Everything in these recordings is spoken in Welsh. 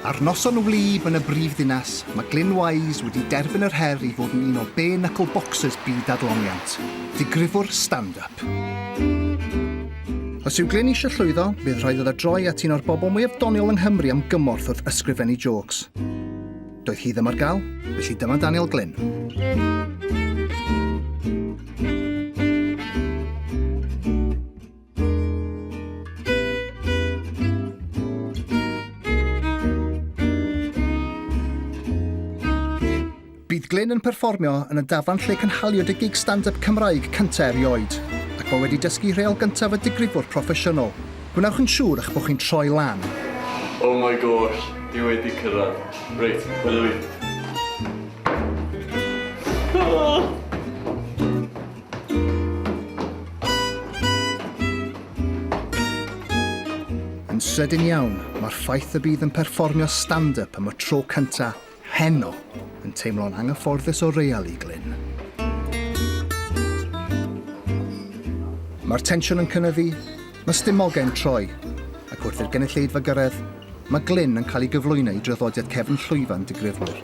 Ar noson wlyb yn y brifddinas, mae Glyn Wise wedi derbyn yr her i fod yn un o bare knuckle boxers byd adloniant, digrifwr stand-up. Os yw Glyn eisiau llwyddo, bydd rhaid iddo droi at un o'r bobl mwyaf doniol yng Nghymru am gymorth wrth ysgrifennu jôcs. Doedd hi ddim ar gael, felly dyma Daniel Glyn. Bydd Glyn yn perfformio yn y dafarn lle cynhaliwyd y gig stand-up Cymraeg cyntaf erioed, ac mae wedi dysgu rheol gyntaf y digrifwr proffesiynol. Gwnewch yn siŵr eich bod chi'n troi lan. Oh my gosh, dwi wedi cyrraedd. Reit, hwyl. Yn sydyn iawn, mae'r ffaith y bydd yn perfformio stand-up am y tro cyntaf heno yn teimlo'n anghyfforddus o real i Glyn. Mae'r tensiwn yn cynyddu, mae stumogau yn troi, ac wrth i'r gynulleidfa gyrraedd, mae Glyn yn cael ei gyflwyno i draddodiad cefn llwyfan digrifwyr.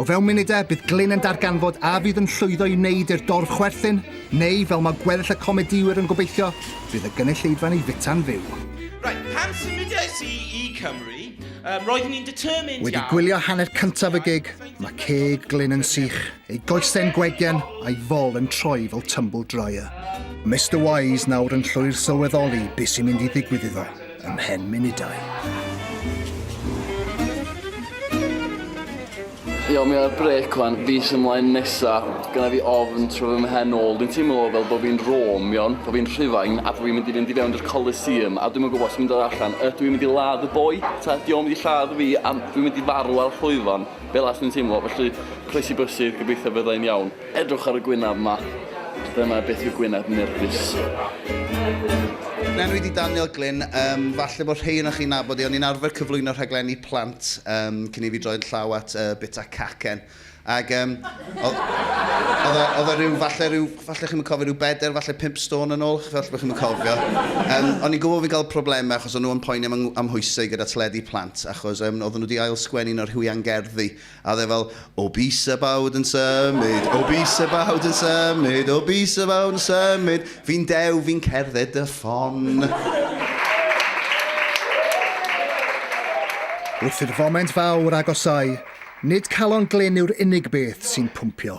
O fewn munudau, bydd Glyn yn darganfod a fydd yn llwyddo i wneud i'r dorf chwerthin, neu, fel mae gweddill y comedïwyr yn gobeithio, bydd y gynulleidfa'n ei fita'n fyw. Right, pan symudiais i i Cymru, um, roeddwn i'n determined Wedi gwylio hanner cyntaf y gig, mae ceg Glyn yn sych, ei goesau'n gwegen a'i fol yn troi fel tumble dryer. Mr Wise nawr yn llwyr sylweddoli beth sy'n mynd i ddigwydd iddo. ymhen munudau. Iawn, mi ar brec wan, fis ymlaen nesa, gyda fi ofn tro fy mhen ôl. Dwi'n teimlo fel bod fi'n Rome, iawn, bod fi'n Rhufain, a bod fi'n mynd i fynd i fewn i'r Coliseum, a dwi'n mynd gwybod sy'n mynd ar allan. Ydw i'n mynd i ladd y boi, ta di o'n mynd i lladd fi, a dwi'n mynd i farw ar llwyfan, fel as dwi'n teimlo, felly croesi bysydd, gobeithio byddai'n iawn. Edrych ar y gwyneb 'ma. Dyna beth yw gwyneb nerfus. Yn enwyd i Daniel Glyn. Yym, falle bod rhei ohonoch chi'n nabod i, o'n i'n arfer cyflwyno rhaglenni plant yym cyn i fi droi'n llaw at yy bita cacen. Ac yym, oedd oedd e oedd e ryw falle ryw, falle chi'm yn cofio, ryw bedair, falle pump stôn yn ôl, falle bod chi'm yn cofio. Yym, o'n i'n gwybod fi'n cael problemau achos o'n nhw yn poeni am 'y amhwysau gyda teledu plant, achos yym oedden nhw 'di ail-sgwennu un o'r rhywiau'n gerddi, A oedd e fel, Obese about yn symud, obese about yn symud, obese about yn symud, fi'n dew, fi'n cerdded dy ffon. Wrth i'r foment fawr agosáu, nid calon glyn yw'r unig beth sy'n pwmpio.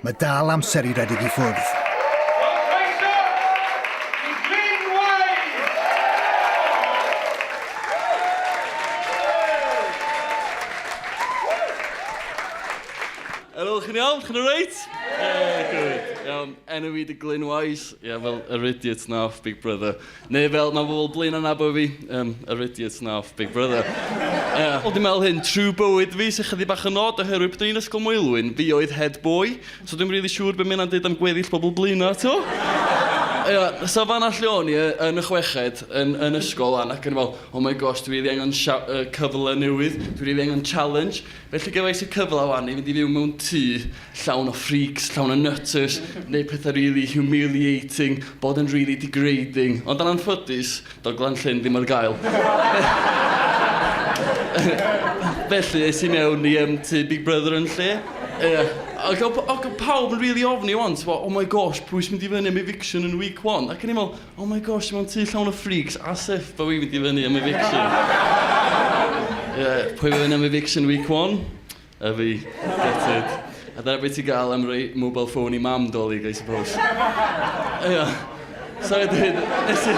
Mae dal amser i redeg i ffwrdd. Yr ydych chi'n iawn? Chi'n reit? Ie, good. Iawn, enw i di Glyn Wise. Ie, fel yr idiot na off Big Brother. Neu fel mae bobl Blaenau yn nabod fi, yym, yr idiot 'na off Big Brother. Yy, wel dwi'n meddwl hyn, trwy bywyd fi sy'n chydig bach yn od oherwydd pryd o'n i'n Ysgol Maelwyn, fi oedd head boy, so dwi'm rili siŵr be mae hynna'n deud am gweddill pobl Blaenau, tibod? Ia, so fan'na lle o'n i yy yn y chweched yn yn ysgol 'wan ac o'n i fel, oh my gosh, dwi rili angen sha- yy cyfle newydd, dwi rili angen challenge. Felly gefais y cyfle 'wan i fynd i fyw mewn tŷ. llawn o freaks, llawn o nutters, neu pethau really humiliating, bod yn really degrading. Ond yn anffodus, doedd Glanllyn ddim ar gael. Felly, es i mewn i um, tu Big Brother yn lle. Yeah. Ac oedd pawb yn really ofni o'n, ti'n oh my gosh, pwy sy'n mynd i fyny am eviction yn week one? Ac yn i'n meddwl, oh my gosh, mae'n tu llawn o freaks, as if bod fi'n mynd i fyny am eviction. yeah, pwy fyny am eviction week one? A fi, gutted. A dyna beth ti'n gael am roi mobile phone i mam dolig, I suppose. Ia. So wedyn, nes i...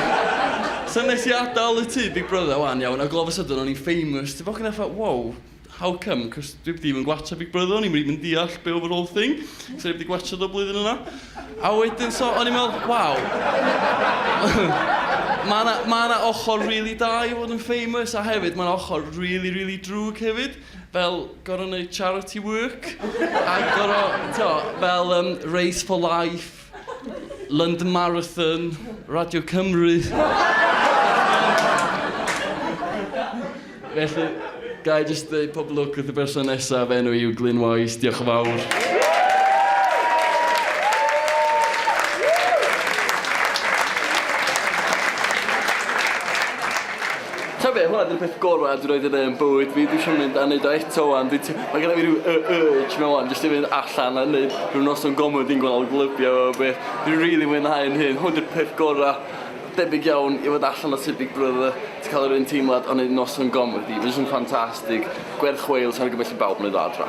So nes i adael y tŷ Big Brother wan, iawn, ac all of a sudden o'n i'n famous. Ti'n ffocin effa, wow, how come? Cos dwi ddim yn gwatcha Big Brother, o'n i'm rili'n deall be oedd yr whole thing. So o'n i wedi gwatcha do blwyddyn yna. A wedyn, so o'n i'n meddwl, wow. Mae yna ma ochr rili really da i fod yn famous, a hefyd mae yna ochr rili, really, really drwg hefyd. fel gor'o' neud charity work a gor'o' t'o' fel yym Race for Life, London Marathon, Radio Cymru. Felly, ga i jyst ddeud pob lwc wrth y berson nesaf, fy enw i yw Glyn Wise, diolch yn fawr. T'o' be' hwnna 'di'r peth gora' dwi 'rioed 'di neu' yn bywyd fi dwi isio mynd a neud o eto ŵan dwi t- ma' gynno fi ryw y- urge 'ma ŵan jyst i fynd allan a neud rhyw noson gomedi'n gweld glybiau a be'. Dwi rili mwynhau 'yn hun hwn 'di'r peth gora'. Debyg iawn i fod allan o tŷ big brother ti ca'l yr un teimlad o neud noson gomedi ma' jys yn ffantastig. Gwerth chweil sai'n argymell i bawb neud o adra.